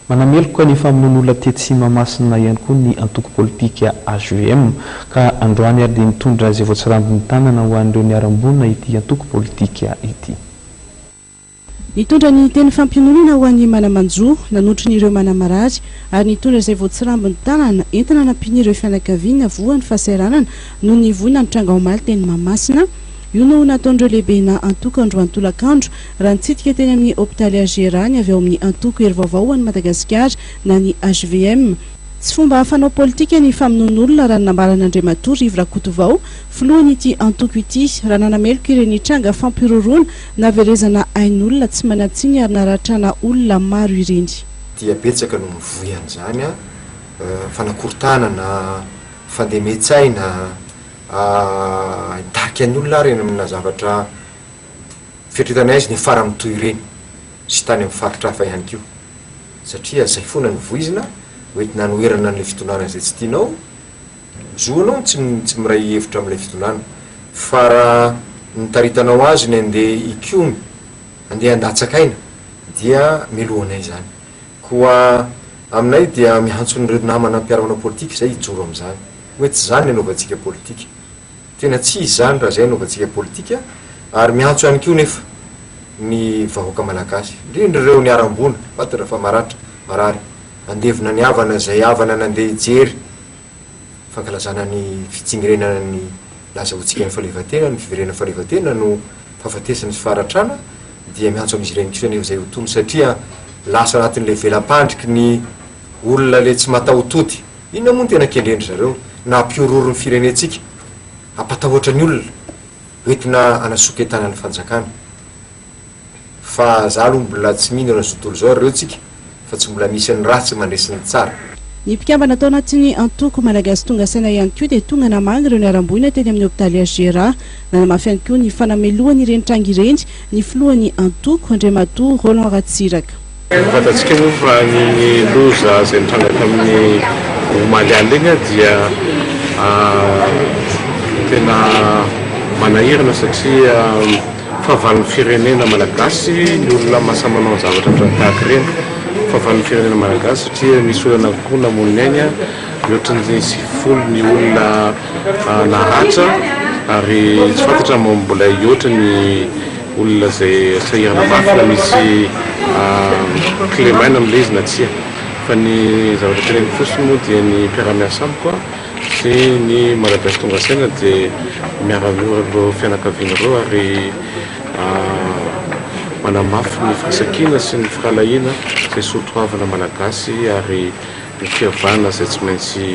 Manameloka ny famonoan'olona tetsy Tsimahamasina ihany koa ny antoko politika hvm, ka androany ary dia nitondra izay voatsirambin'ny tanana ho an'ireo niharam-boina ity antoko politika ity. Nitondra ny teny fampiononana ho an'ny mana-manjo, nanotry ny ireo mana-marary, ary nitondra izay voatsirambin'ny tanana entina hanampian'ireo fianakaviana voan'ny fahasahiranana noho ny voina nitranga omaly teny Mahamasina, Io no nataon'ireo lehibenà antoko andro antolakandro, raha nitsidika teny amin'ny hopitaly HGRA ny avy ao amin'ny antoko Hery Vaovao ho an'i Madagasikara na ny hvm. Tsy fomba fanao politika ny famonoan'olona, raha ny nambaran'Andriamatoa Rivo Rakotovao, filohan'ity antoko ity, raha nanameloka ireny tranga fampihorohoroana, naverezana ain'olona tsy manan-tsiny ary naratrana olona maro ireny. dia betsaka no mivoy an'izany, fanakorontanana, fandemen-tsaina, Hitarika ny olona ary any amina zavatra fieritreretana azy ny faran'ny toy ireny sy tany amin'ny faritra hafa ihany koa satria izay foana no voizina ho entina hanoherana an'ilay fitondrana izay tsy tianao, ny zoanao ny tsy tsy miray hevitra amin'ilay fitondrana fa raha nitaritanao azy ny handeha hikomy, handeha handatsaka aina dia melohanay izany. Koa aminay dia miantso an'ireo namana mpiara-manao politika izay hijoro amin'izany. Hoe tsy izany ny anaovantsika politika. Tena tsy izy izany raha izay anaovantsika politika ary miantso ihany koa nefa ny vahoaka malagasy, indrindra ireo niharam-boina, fantatra fa maratra, marary, handevina ny havana izay havana nandeha hijery. fankalazana ny fitsingerenana ny laza ho tsingan'ny fahaleovantena, ny fiverenan'ny fahaleovantena no fahafatesana sy faharatrana dia miantso amin'izy ireny kosa anefa izay ho tony satria lasa anatin'ilay vela-pandriky ny olona ilay tsy mataho-tody, inona moa no tena kendren-dry zareo na hampiororo ny firenentsika, hampatahotra ny olona, hoentina hanasoketana ny fanjakana. Fa za aloha mbola tsy mino an'izao tontolo izao ry reo tsika fa tsy mbola misy ny ratsy mandresy ny tsara. Ny mpikambana tao anatin'ny antoko Malagasy tonga saina ihany koa dia tonga namaly ireo niharam-boina teny amin'ny hopitaly HGRA. Nanamafy ihany koa ny fanamelohany ireny tranga ireny ny filohan'ny antoko, Andriamatoa Roland Ratsiraka. Fantatsika moa fa ny loza izay nitranga tamin'ny omaly alina iny dia tena manahirana satria fahavalon'ny firenena malagasy ny olona mahasahy manao ny zavatra ohatran'ny tahaka ireny. Fahavalon'ny firenena malagasy satria misy olona anakiroa namoy ny ainy, mihoatra ny sivifolo ny olona naratra ary tsy fantatra mbola hihoatra ny olona izay asaia hanamafy na misy clé main amin'ilay izy na tsia. Fa ny zavatra teneniko fotsiny moa dia ny mpiara-miasa amiko sy ny Malagasy tonga saina dia miara-miora amin'ireo fianakaviana ireo ary manamafy ny firaisan-kina sy ny firahalahiana izay soatoavina Malagasy ary ny fihavana izay tsy maintsy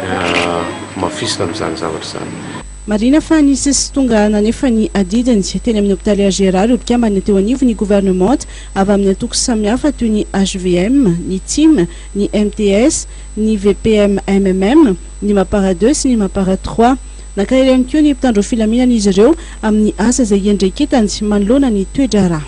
hamafisina amin'izany zavatra izany. Marihina fa nisy sy tonga nanefa ny adidiny teny amin'ny hopitaly HGRA ireo mpikambana teo anivon'ny governemanta avy amin'ny antoko samihafa toy ny hvm, ny tim, ny mts, ny vpm-mmm, ny mapara deux sy ny mapara trois. Nankahery ihany koa ny mpitandro filaminana izy ireo amin'ny asa izay iandraiketany manoloana ny toe-draharaha.